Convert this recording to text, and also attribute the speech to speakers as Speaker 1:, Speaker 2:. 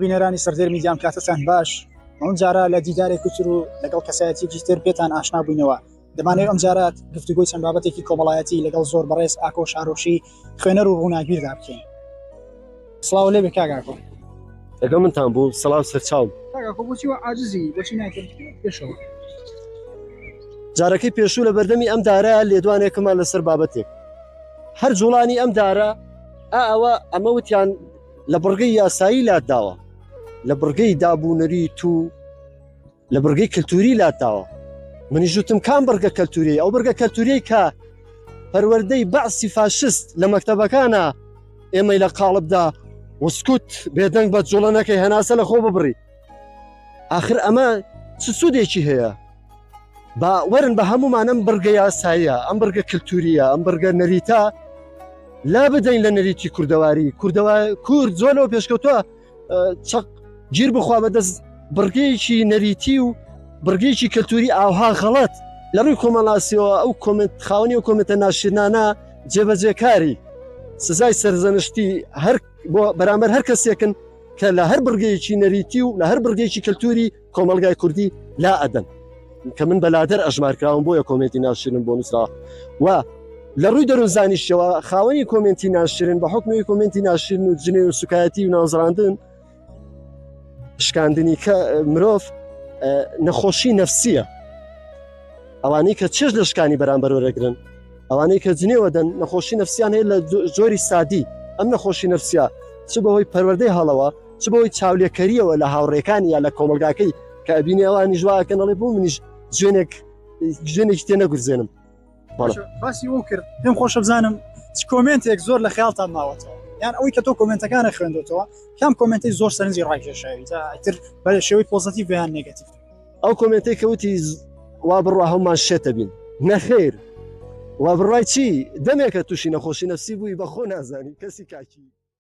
Speaker 1: بینەرانی سەردێر میدیا ئەم کاتەتان باش ئەم جارە لە دیدارێکی تر و لەگەڵ کەسایەتیکی تر پێتان ئاشنا بووینەوە دەمانەوێت ئەم جارات گفتوگۆی چەند بابەتێکی کۆمەڵایەتی لەگەڵ زۆر بەڕێز ئاکۆ شارۆشی خوێنەر و ڕووناگیردا بکەین سڵاو لێ بێ کاگاکۆ لەگەڵ
Speaker 2: منتان بوو سەڵاو سەرچاو جارەکەی پێشوو لە بەردەمی ئەم دارە لێدوانێکمان لەسەر بابەتێک هەر جوڵانی ئەم دارە ئەوە ئەمە وتیان لە بڕگەی یاسایی لاداوە لە بڕگەی دابوونەری تو لە بڕگەی کللتوری لاداوە منیژوتم کام بڕگە کەلتوری ئەو بڕگە کەلتوری کە پەروەەردەی بەعسی فاشست لە مەکتتەبەکانە ئێمەی لە قاڵبدا وسکوت بێدەنگ بە جوڵەنەکەی هەناسە لە خۆ ببڕی آخر ئەمە چ سوودێکی هەیە با وەرن بە هەمومان ئەم بڕگە یاساییە ئەم بڕگە کللتوریە ئەم بڕگە نەریتە لا بدەین لە نەریتی کوردەواری کوردەوە کورد زۆر لەوە پێشکەوتوە چەق گیر بخوا بەدەست بڕگەیەکی نەریتی و بڕگەیەکی کەلتوری ئاها غەڵەت لە ڕووی کۆمەڵاسیەوە ئەو کۆمنت خاوەنی و کۆمنتە ناشرنانە جێبەجێکاری سزای سەرزەنشتی هەر بۆ بەرامبەر هەر کەسێکن کە لە هەر بڕگەیەکی نەریتی و لە هەر بڕگەیەکی کەلتوری کۆمەڵگای کوردی لا ئەدەن کە من بەلادەر ئەژمارکراوم بۆیە کۆمێنتی ناشرم بۆ نووسرا و لە ڕووی دەروزانیشەوە خاوەنی کۆمێنتی ناشرن بە حکمی کۆمێنتی ناشرن و جنێ و سوکایەتی و نازراندن شکاندنی کە مرۆڤ نەخۆشی نەفسیە ئەوانەی کە چێژ لە شکانی بەرامبەر وەرەگرن ئەوانەی کە جنێوە دەن نەخۆشی نەفسیان هەیە لە جۆری سادی ئەم نەخۆشی نەفسیا چ بەهۆی پەروەردەی هەڵەوە چ بەوەی چاولێکەریەوە لە هاوڕێکانی یا لە کۆمەلگاکەی کە ئەبینێ ئەوانی ژواکەن ئەڵێ بۆ منیش جوێنێک جوێنێکی تێ نەگورزێنم باسی
Speaker 1: ئەو کرد پێم خۆشە بزانم چ کۆمنتێک زۆر لە خیاڵتان ماوەتەوە یان ئەوەی کە تۆ کۆمنتەکانە خوێندێتەوە کام کۆمنتی زۆر سەرنجی ڕاکێشاوی تر بە شێوەی پۆزەتی بیان نگەتیف ئەو کۆمنتی کەوتی
Speaker 2: وا بڕوا هەمومان شێتە بین نەخێر وا بڕای چی دەمێکە تووشی نەخۆشی نەفسی بووی بەخۆ نازانی کەسی کاکی